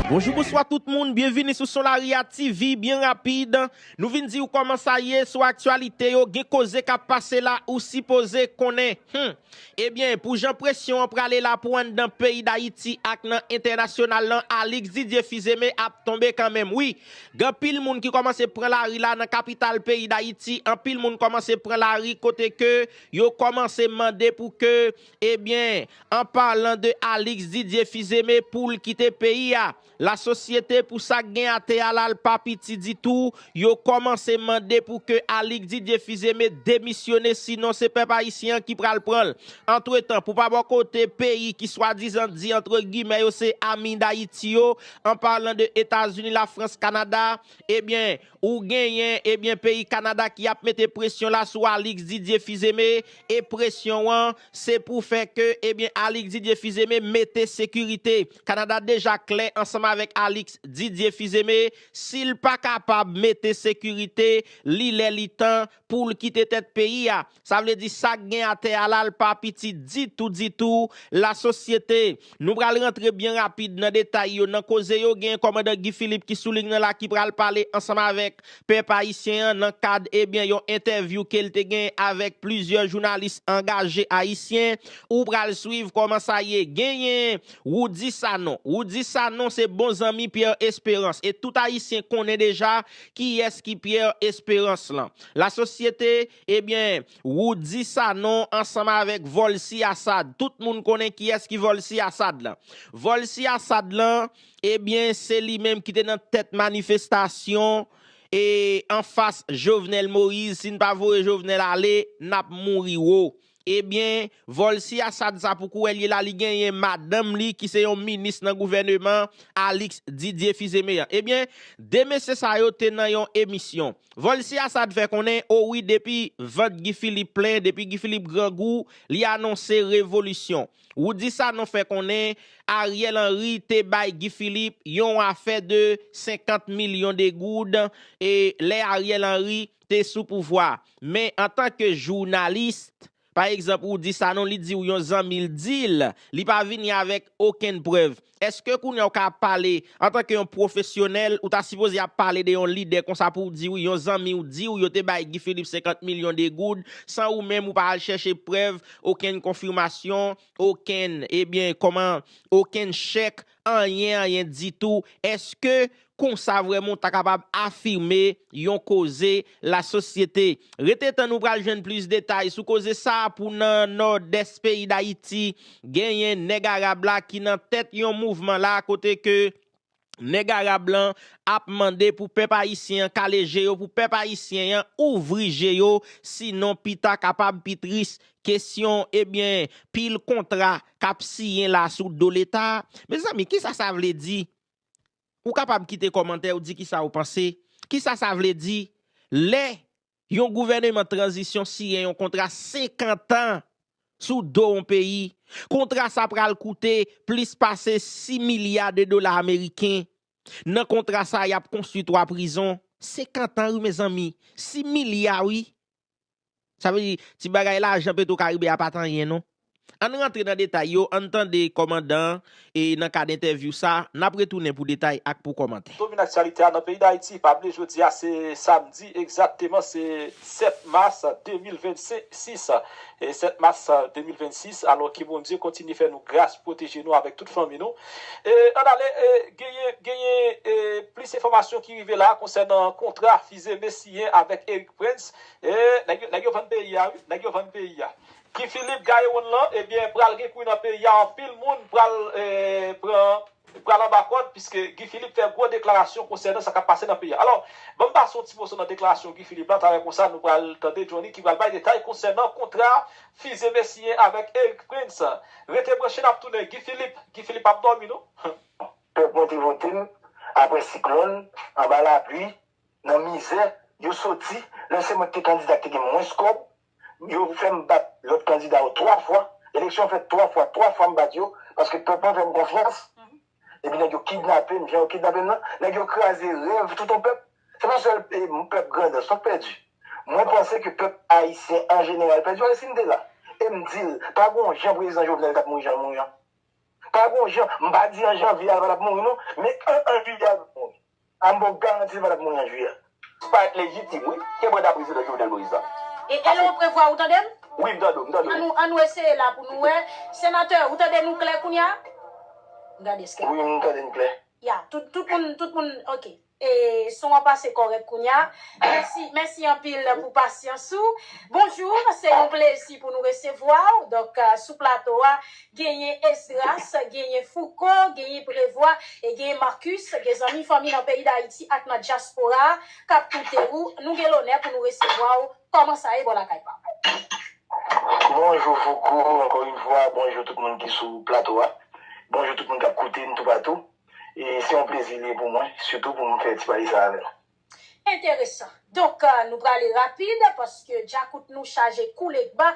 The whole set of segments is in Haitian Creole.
Bonjou bonswa tout moun, byenvini sou Solaria TV, byen rapid Nou vin diw kòman sa ye sou aktyalite yo gen koze kap pase la ou sipoze konnen Humm Ebyen pou jan presyon an prale la pou anndan peyi Dayiti ak nan entènasyonal lan Alix Didier Fizeme ap tonbe kanmenm wi Gan pil moun ki kòmanse pran lari la nan kapital peyi Dayiti anpil moun kòmanse pran lari kote ke yo kòmanse mande pou ke Ebyen, an palan de Alix Didier Fils-Aimé poul kite peyi a, la sosyete pou sak gen ate a la l pa piti ditou, yo kòmanse mande pou ke Alix Didier Fils-Aimé demisyone sinon se pèp ayisyen an ki pral pran l. Antretan, pou pa bò kote, peyi ki swadizan di antre gimè yo se ami Dayiti yo, an palan de Etazini, Lafrans, Kanada, ebyen, Ou genyen, ebyen peyi Kanada ki ap mete presyon la sou Alix Didier Fizeme e presyon an se pou fè ke ebyen Alix Didier Fizeme mete sekirite. Kanada deja klè ansanm avèk Alix Didier Fizeme, si l pa kapab mete sekirite, li lè li tan poul kite tèt peyi a sa vle di sak gen atè a la l pa piti ditou ditou la sosyete nou pral rantre byen rapid nan detay yo nan koze yo gen kòmandan Guy Philippe ki sou liy nan la ki pral pale ansanm avèk pèp ayisyen an nan kad ebyen yon entèvyou kel te gen avèk plizyè jounalis angaje ayisyen ou pral swiv kòman sa ye genyen Roudy Sanon Roudy Sanon se bon zanmi Pierre Espérance e tout ayisyen konnen deja Kiyès ki Pierre Espérance lan? La société, ebyen Roody Sanon ansanm avèk Volcy Assad, tout moun konnen kiyès ki Volcy Assad lan. Volcy Assad lan, ebyen se li menm ki te nan tèt manifestasyon e anfas Jovenel Moïse, si n pa voye Jovenel ale, n ap mouri wo. Ebyen, vòl si Assad sa pou kouwè l ye la li genyen madanm li ki se yon minis nan gouvèneman Alix Didier Fils-Aimé an. Ebyen, 2 mesye sa yo te nan yon emisyon. Vòl si Assad fè konnen, o wi depi vant Guy Philippe plen, depi Guy Philippe grangou, li anonse revolisyon. Roudy Sanon fè konnen Ariel Henry te bay Guy Philippe yon afè de 50 milyon de goud e lè Ariel Henry, te sou pouvwa men antan ke journalist pa egzanp ou di Sanon li diw yon zanmil dil li pa vini avèk okenn prèv eske kounya ou ka pale antan ke yon profesyonèl ou ta sipoze ap pale de yon lidè konsa pouw diw yon zanmiw diw yo te bay Guy Philippe 50 milyon de goud san ou menm ou pa al chèche prèv okenn konfimasyon okenn ebyen kòman okenn chèk Anyen anyen ditou, èske konsa vrèman ou ta kapab afime yon koze lasosyete? Rete tann ou pral jwenn plis detay sou koze sa pou nan Nòdès peyi Dayiti genyen nèg arab la ki nan tèt yon mouvman la kote ke nèg arab lan ap mande pou pèp ayisyen an kale je yo pou pèp ayisyen an ouvri je yo sinon pita kapab pi tris Kesyon, Ebyen, pil kontra k ap siyen la sou do Leta. Mezanmi, ki sa sa vle di? Ou kapab kite kòmantè ou di ki sa ou panse. Ki sa sa vle di lè yon gouvèneman tranzisyon siyen yon kontra 50 an sou do yon peyi? Kontra sa pral koute plis pase 6 milya de dola ameriken. Nan kontra sa y ap konstwi 3 prizon. 50 an wi mezanmi, 6 milya wi. Sa vle di, ti bagay lajan petro karibe a pat anyen non. Ann rantre nan detay yo, ann tande kòmandan an e nan kad entèvyou sa, nap retounen pou detay ak pou kòmantè. Domine aktyalite a nan peyi Dayiti pa bliye jodi a se samdi egzakteman se 7 mas 2026 e 7 mas 2026 alò ke Bondye kontinye fè nou gras pwoteje nou avèk tout fanmi nou e ann ale genyen genyen plis enfòmasyon ki rive la konsènan kontra Belize Messier avèk Erick Prince eeh nèg yo vann peyi a wi nèg yo vann peyi a Guy Philippe Gaeron lan ebyen pral gen kwi nan peyi a anpil moun pral pran pral anba kòd piske Guy Philippe fè gwo deklarasyon konsènan sa kap pase nan peyi a alò banm pase yon ti moso nan deklarasyon Guy Philippe la talè konsa nou pral tande Johnny ki pral bay detay konsènan kontra Fize Messier avèk Erick Prince rete branche nap tounen Guy Philippe Guy Philippe pap dòmi non. Pèp mwen te vote m aprè siklòn, anba lapli, nan mizè, yo soti, lè se mwen ki te kandida ki te gen mwens kòb, yo fè m bat lòt kandida yo 3 fwa, eleksyon fèt 3 fwa, 3 fwa m bat yo, paske pèp mwen fè m konfyans, epi nèg yo kidnape m jan yo kidnape m nan, nèg yo kraze rèv tout on pèp, se pa sèl pèp Grandans non k pèdi, mwen panse ke pèp ayisyen an jeneral pèdi, paske si m te la, e m di l, pa gen on jan prezidan Jovenel t ap mouri jan l mouri an. Pa gon jan, m pa di an janvye a l pa t ap mouri non, men an an jiyè a l p ap mouri. A m ba w garanti l pa t ap mouri an jiyè a. Sa pa rèt lejitim wi, ke manda prezidan Jovenel Moïse la pase. E lè w prevwa, ou tande m? Wi, m tande w, m tande w. An nou, an nou eseye la pou nou wè. Senatè, ou tande nou klè kounye a? M gade eske. Wi, m tande n klè. Ya, tout, tout moun, tout moun, ok. E son an pase kòrèk kounya. Mèsi mèsi anpil pou pasyans ou. Bonjour se yon plezi pou nou resevwa w donk sou plato a genyen Esdras genyen Fouco genyen Prevwa e genyen Marcus gen zanmi fanmi nan peyi dayiti ak nan dyaspora a kap koute ou nou gen lonè pou nou resevwa w kòman sa ye bò lakay pa w. Bonjou Fouco ankò yn fwa bonjou tout moun ki sou plato a bonjou tout moun kap koute n toupatou. E se yon plezi li ye pou mwen, sitou pou m fè ti pati sa avè w. Enteresan. Donk, nou prale rapid, paske djakout nou chaje kou legba,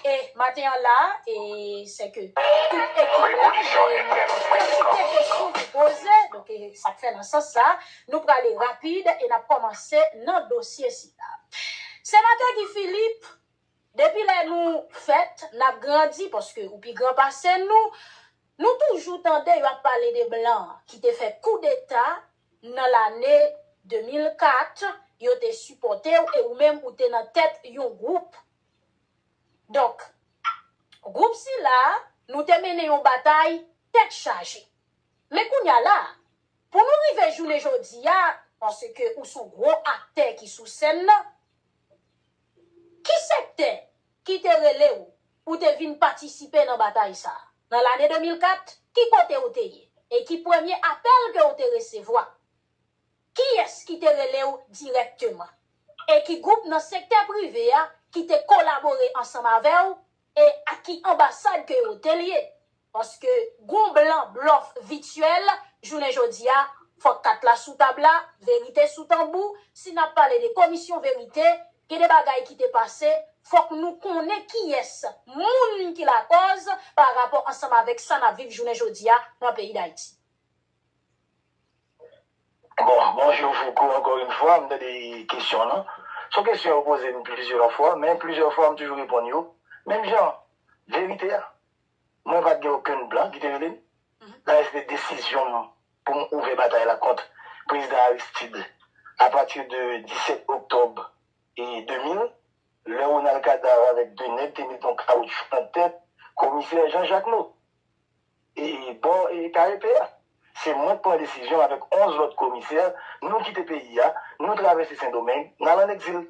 e maten an la a, e se ke tout ekip la, genyen yon kantite kesyon pou poze, donk e sa k fè nan sans sa a, nou prale rapid e n ap kòmanse nan dosye sila. Senatè Guy Philippe, Depi lè nou fèt, n ap grandi paske ou pi gran pase nou. Nou toujou tande yo ap pale de blan ki te fè koudeta nan lane 2004, yo te sipòte w e ou menm ou te nan tèt yon gwoup. Donk, gwoup sila a, nou te mennen yon batay tèt chaje. Men kounye a la, pou nou rive jounen jodi a, paske ou son gwo aktè ki sou sèn nan, Ki sektè ki te rele ou pou te vin patisipe nan batay sa a? Nan lane 2004, ki kote ou te ye, e ki premye apèl ke ou te resevwa? Kiyès ki te rele ou dirèkteman? E ki gwoup nan sektè prive a ki te kolabore ansanm avè ou E ak ki anbasad ke yo te lye? Paske gon blan blòf vityèl jounen jodi a, fòk kat la sou tab la, verite sou tanbou, si n ap pale de komisyon verite, gen de bagay ki te pase, fòk nou konnen kiyès moun ki lakòz pa rapò ansanm avèk sa n ap viv jounen jodi a nan peyi Dayiti. Bon, bonjou Fouco ankò yn fwa, m tande kesyon lan, s on kesyon yo poze m plizyè fwa, men plizyè fwa m toujou reponn yo menm jan, verite a, mwen pa t gen okenn blan ki te rele m, dayè se te desizyon m pou m ouvè batay la kont prezidan Aristide apati de 17 oktòb 2000, lè Ronald Kadav avèk 2 nèg te met yon kawoutchou nan tèt komisè Jean Jacques Naud. E bò KEP a, se mwen k pran desizyon avèk 11 lòt komisè, nou kite peyi a, nou travèse Sendomeng, n al an egzil.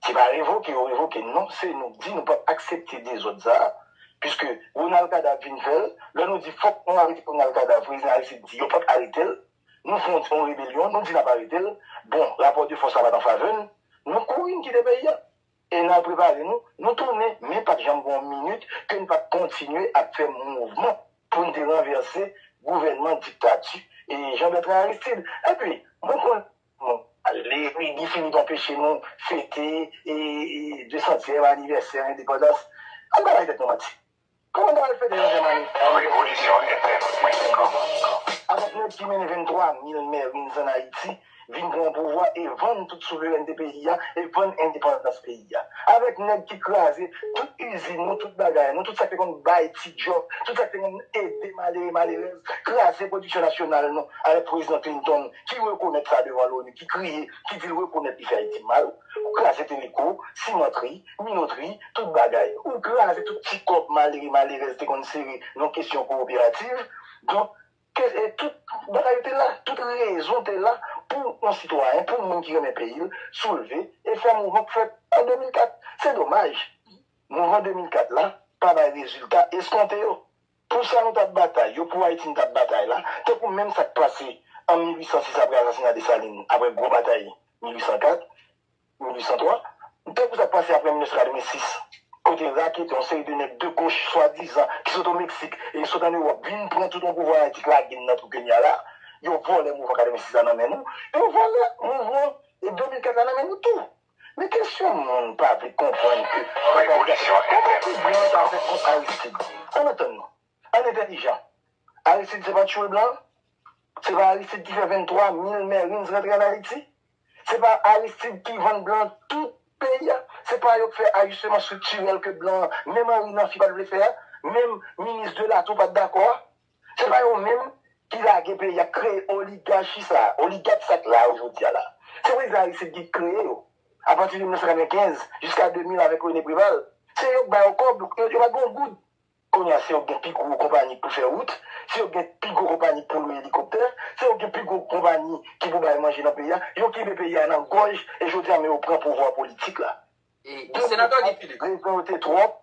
Se pa revoke yo revoke n non, se nou k di nou p ap aksepte dezòd sa a, piske Ronald Kadav vin fè l, lè nou di fòk nou arete Ronald Kadav, prezidan Aristide di yo p ap arete l, nou fon yon rebelyon, nou di n ap arete l, bon rapò de fòs la pa t an favè n, nou kouri n kite peyi a. E n al prepare nou, nou tounen, men pa t janm gen yon minit ke n pa t kontinye ap fè mouvman pou n te ranvèse gouvènman diktati Jean Bertrand Aristide. Enpi, mwen konnen nou pale, epi Guy Philippe anpeche nou fete 200 tièm anivèsè endepandans. An n pa bay tèt nou manti. Kòman nou al fete dezyèm ane? Yon revolisyon entèn mwen te kòmanse. Avèk nèg ki mennen 23 mil mèrin zan Ayiti vin pran pouvwa e vann tout souverènte peyi a e vann endepandans peyi a. Avèk nèg ki kraze tout izin nou, tout bagay nou, tout sa k te konn bay ti djòb, tout sa k te konn ede malere malerèz, kraze pwodiksyon nasyonal nou avèk pwezidan Clinton ki rekonèt sa devan Loni, ki kriye, ki di l rekonèt li fè Ayiti mal, kraze Teleko, Simantri. minotri, tout bagay. Ou kraze tout ti kòb malere malerèz te konn sere nan kesyon kowoperativ. Donk, tout bagay yo te la, tout rezon te la pou yon sitwayen, pou yon moun ki renmen peyi l, soulve e fè mouvman k fèt an 2004. Se domaj, mouvman 2004 la pa bay rezilta eskonte yo. Pou sa nou t ap batay yo, pou Ayiti nou t ap batay la, tankou menm sa k pase an 1806 apre asasina Desalin, apre gwo batay 1804, 1803, dèt pou sa k pase apre 1986, kote raketè, yon seri de nèg de goch swadizan ki sot o Meksik e ki sot an Ewòp vin pran tout yon pouvwa an Ayiti k lage n nan twou Kenya la, yo vòlè mouvman 86 la nan men nou, yo vòlè mouvman 2004 la nan men nou tou. Men kesyon moun pa vle konprann ke bagay ki ap fèt la, kòman pou blan an ta fè kont Aristid? Ann antann nou, ann entèlijan. Aristid se pa t tchwe blan? Se pa Aristid ki fè 23 mil Marines rantre an Ayiti? Se pa Aristide ki vann blan tout peyi a, se pa yo k fè ajisteman striktirèl ke blan an, menm Henry Namphy pat vle fè a, menm minis de Latour pat dakò a. Se pa yo menm ki lage peyi a, k kreye oligachi sa, oligat sa k la yo jodi a la. Se prezidan Aristide ki kreye yo apati de 1995 jiska 2000 avèk René Préval. Se yo k ba yo kòb, yo pat gen yon goud. Kounye a se yo k gen pi gwo konpani pou fè wout, se yo k gen pi gwo konpani pou lwe elikoptè, se yo k gen pi gwo konpani ki pou bay manje nan peyi a. Yo kenbe peyi a nan gòj e jodi a men yo pran pouvwa politik la. Gen moun k di rezon yo te twòp.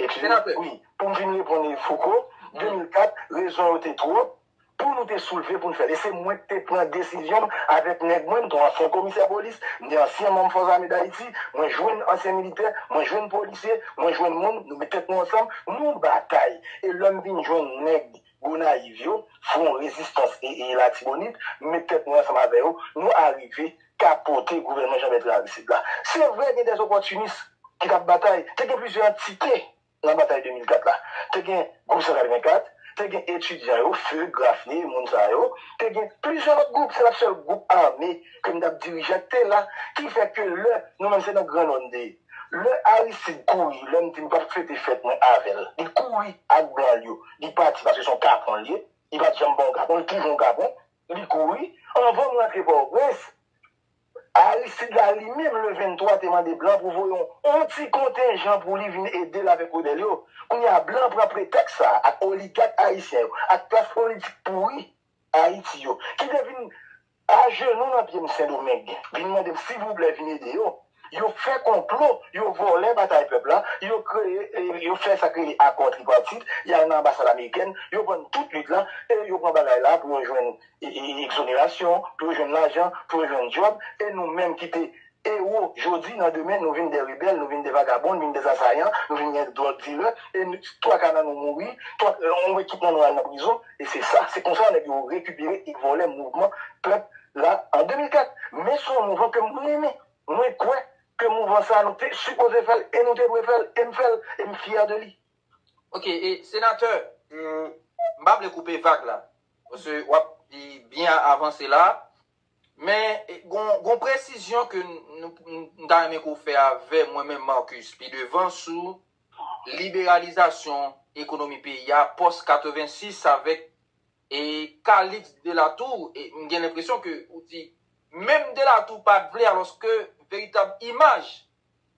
Ekskize m, wi, pou m fin reponn Fouco, 2004, rezon yo te twòp. Pou nou te soulve pou n fè l. E se mwen k te pran desizyon m avèk nèg mwen, m te yon ansyen komisè polis, m te ansyen manm Fòs Ame Dayiti, mwen jwenn ansyen militè, mwen jwenn polisye, mwen jwenn moun, nou met tèt nou ansanm, nou batay. E lè m vin jwenn nèg Gonayiv yo, Fwon Rezistans e e Latibonit, m met tèt mwen ansanm avè yo, nou arive kapote gouvènman Janbètrè Aristid la. Se vre gen dèzopòtinis ki t ap batay, te gen plizyè antite. Nan batay 2004 la, te gen gwoup 184, te gen etidyan yo, few, grafye, moun sa yo, te gen plizyè lòt gwoup, se pat sèl gwoup ame ke m t ap dirije k te la, ki fè ke lè, nou menm se nan Gran Nò n te ye, lè Aristide kouri, lè m di m p ap fete fèt mwen avè l, li kouri ak blan l yo, li pati paske se yon kapon l ye, li pat janm ba yon kapon, li toujou yon kapon. Li kouri. Anvan m rantre Pòtoprens, Aristide la li menm le 23 te mande blan pou voye yon ti kontenjan pou li vin ede l avèk rebèl yo. Kounye a blan pran pretèks sa a ak oligak ayisyen yo, ak klas politik pouri Ayiti yo, ki te vin ajenou nan pye m Sendomeng, vin mande m silvouplè vin ede yo. Yo fè konplo, yo vòlè batay pèp la, yo kreye, yo fè sa k rele akò tripartit, y al nan anbasad amerikèn, yo vann tout lit la, e yo pran bagay la pou yo jwenn ekzonerasyon, pou yo jwenn lajan, pou yo jwenn djòb, e nou menm ki te ewo jodi, nan demen nou vin dè rebèl, nou vin dè vagabon, nou vin dè zasayan, nou vin dè dwòg dilè, e twaka nan nou mouri, twak, on ekip nan nou al nan prizon. E se sa, se konsa nèg yo rekipere e vòlè mouvman pèp la an 2004. Men se yon mouvman ke mwen renmen. Mwen kwè ke mouvman sa nou te sipoze fè l e nou te dwe fè l e m fè l e m fyè de li. Ok, e senatè, m pa vle koupe vag la, paske w ap byen avanse la, men gon yon presizyon ke m ta renmen ke w fè avè mwen menm Marcus pi devan sou liberalizasyon ekonomi peyi a pòs 86 avèk e Calix Delatour e m gen lenpresyon ke ou di menm Delatour pa t vle alòske veritab imaj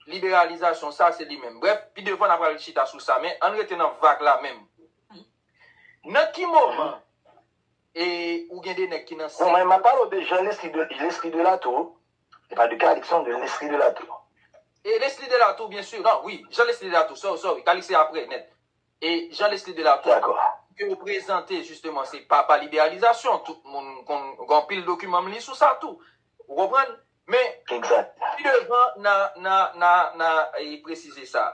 liberalizasyon sa se li menm. Brèf, pi devan na pral chita sou sa men ann rete nan vag la menm. Nan ki moman e ou gen 2 nèg ki nan sèk. Bon mwen m ap pale w de Jean Leslie Delatour Li pa de Calix non de Lesly de la tour. E Lesly de la tour bien sur non wi Jean Lesly de la tour sorry sorry Calix se aprè nèt e Jean Lesly de la tour D'accord. ke yo prezante justement se papa liberalizasyon tout moun konn gen anpil dokiman m li sou sa tou ou konprann men Exact. pi devan na na na na presize sa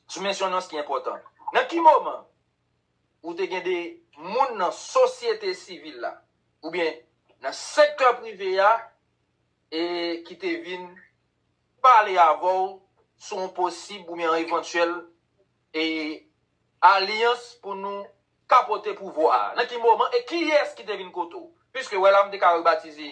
sou mensyonans ki enpòtan nan ki moman ou te gen de moun nan sosyete sivil la oubyen nan sektè prive a e ki te vin pale avè w sou yon posib oubyen yon evantyèl e alyans pou nou kapote pouvwa a? Nan ki moman e kiyès ki te vin kote w? Piske wè la m te ka rebatize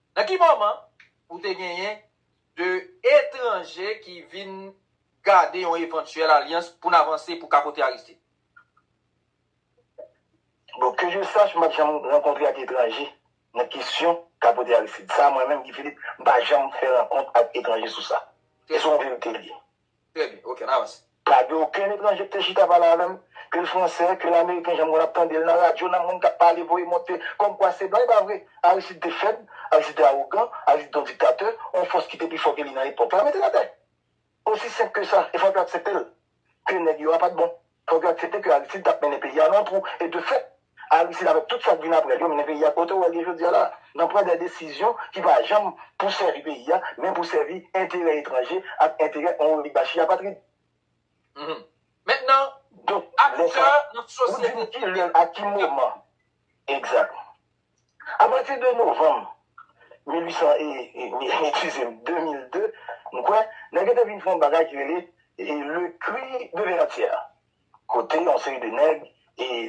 Nan ki moman ou te genyen 2 etranje ki vin gade yon evantyèl alyans pou n avanse pou kapote Aristide? Bon, ke je sache, m pa t janm rankontre ak etranje nan kesyon kapote Aristide. Sa mwen menm, Guy Philippe, m pa janm fè rankont ak etranje sou sa. E se yon verite l ye. Trè byen, ok, an avans. Pa gen okenn etranje k te chita pale avè m, ke l fransè, ke l ameriken jan m konn ap tande l nan radyo, nan moun k ap pale voye monte kòm kwa se blan, e pa vre. Aristide te fèb, Aristide te awogan, Aristide te yon diktatè, yon fòs ki te pi fò ke li nan epòk la mete l atè. Osi senp ke sa, e fòk yo aksepte l, ke nèg yo a pa t bon. Fòk yo aksepte ke Aristide tap mennen peyi a nan twou e de fèt Aristide avèk tout sak vin aprèl yo mennen peyi a kote ou wèl ye jodia la nan pran dè desizyon ki pa janm pou sèvi peyi a men pou sèvi enterè etranje ak enterè on oligachi apatrid. Mèt nan Donk lè sa ou dim kilè ak ki moman exact. Apati de novanm 1800 e dizièm 2002, m kwè, nèg yo te vin fè yon bagay ki rele Le Cri de Verratière, kote yon seri de nèg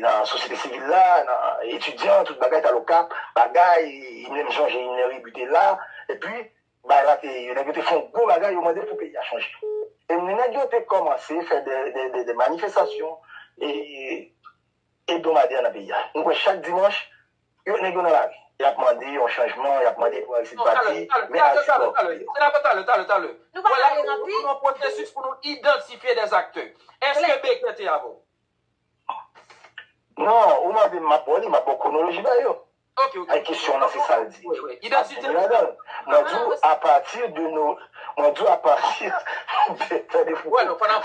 nan sosyete sivil la, nan etidyan, tout bagay t al Okap, bagay, menm jan Jeyinè Rebu te la, epi bagay la te, nèg yo te fè yon gwo bagay, yo mande pou peyi a chanje. E nèg yo te kòmanse fè de manifestasyon, e ebdomadè nan peyi a. Nou kwè chak dimanch, yo nèg yo nan lari. Y ap mande yon chanjman, y ap mande pou Aristide pati, men Aristide pa okipe yo. Senatè Talè, Talè, Talè, wòla nou nan yon pwosesis pou nou idantifye dè aktè. Eske Baker te avè w? Non, ou mande m, m ap ba w li, m ap ba w kwonoloji bagay yo. Ay kesyon w lan se sa l di ap vini ladan l. Mwen di w apati de no mwen di w apati de tande fouco map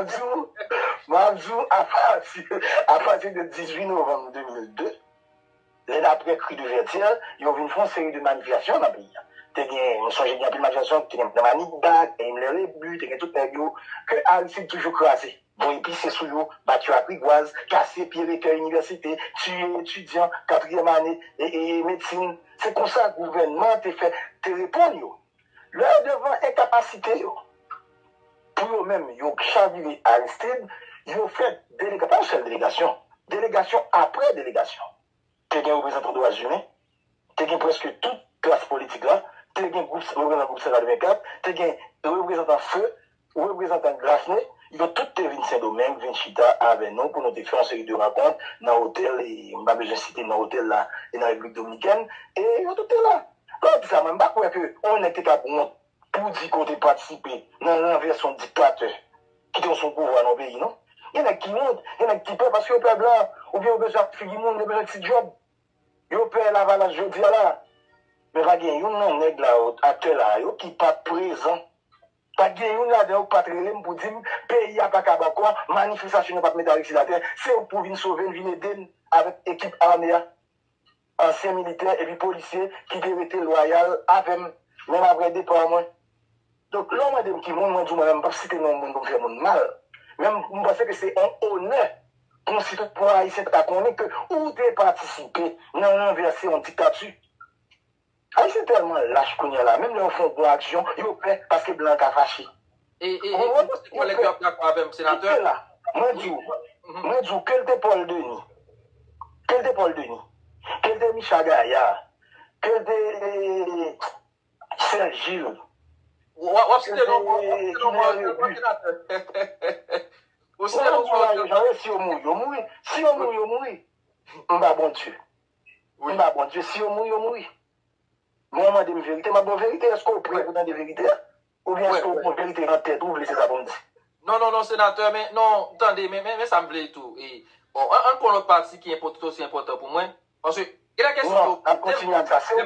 di w map di w apati apati de 18 novanm 2002 lè n ap pran kri de vètyè yo vin fon seri de manifestasyon nan peyi a te gen m sonje gen anpil manifestasyon ki te gen nan manigat te gen blè rebu te gen tout nèg yo ke aristid toujou kraze. Bon y pise sou yo, bat yo ak rigwaz, kase pye rektè inivèsite, tiye etidyan katriyèm ane medsin. Se konsa gouvènman an te fè te reponn yo. Lè yo devan enkapasite yo pou yo menm yo chavire Aristide, yo fè delegasyon, pa yon sèl delegasyon, delegasyon apre delegasyon. te gen reprezantan dwa imen, te gen prèske tout klas politik la, te gen gwoup reprezantan gwoup 524, te gen reprezantan feu, reprezantan Graffney, yo tout te vin Sendomeng vin chita avè nou pou nou te fè yon seri de rankont nan otèl e m pa bezwen site non otèl la e nan Repiblik Dominikèn e yo tout te la. Lò w di sa mwen m pa kwè ke yon nèg te kab wont Pou w di ke w te patisipe nan ranvèse yon diktatè ki te sou pouvwa nan yon peyi non. Gen nèg ki wont, gen nèg ki pè paske yo pè blan oubyen yo bezwen ak figi moun, yo bezwen ti djòb. Yo pè lavalas jodi a la. Men pa gen youn nan nèg la yo, aktè la a yo ki pa t prezan. Pa t gen youn ladan yo ki pa t rele m pou di m peyi a pa kab ankò, manifestasyon nou pa t mete Aristide atè, se ou k pou vin sove n, vin ede n avèk ekip ame a. ansyen militè epi polisye ki te rete lwayal avè m menm aprè depa mwen. Donk, lè w mande m ki moun, mwen di w mwen menm m p ap site non moun pou m fè moun mal. Men m panse ke se yon onè pou yon sitwayen ayisyen ta konnen ke ou te patisipe nan ranvèse yon diktati. Ayisyen tèlman lach kounya la menm lè yo fon bon aksyon yo pè paske blan ka fache. Eee kòlèg yo ap dakò avèm senatè. Kite la mwen diw mwen diw kel te Paul Denis kel te Paul Denis kel te Micha Gaillard kel te Serge Gilles wap site non mwen wap site non mwen wap site non mwen senatè wap site non mwen wap site non mwen yo mouri yo mouri si yo mouri yo mouri mba bon Dieu. M ba Bondye, si yo mouri, yo mouri. Lè yo mande m verite, m ap ba w verite. Èske w prè pou w tande verite a? Oubyen èske w pran verite nan tèt ou, ou vle se sa pou m di? Non, non, non, senatè, men, non, tande, men, men sa m vle tou, e, bon, an n pran lòt pati ki enpò, tout osi enpòtan pou mwen, paske, gen dè kesyon yo, lè m, lè m.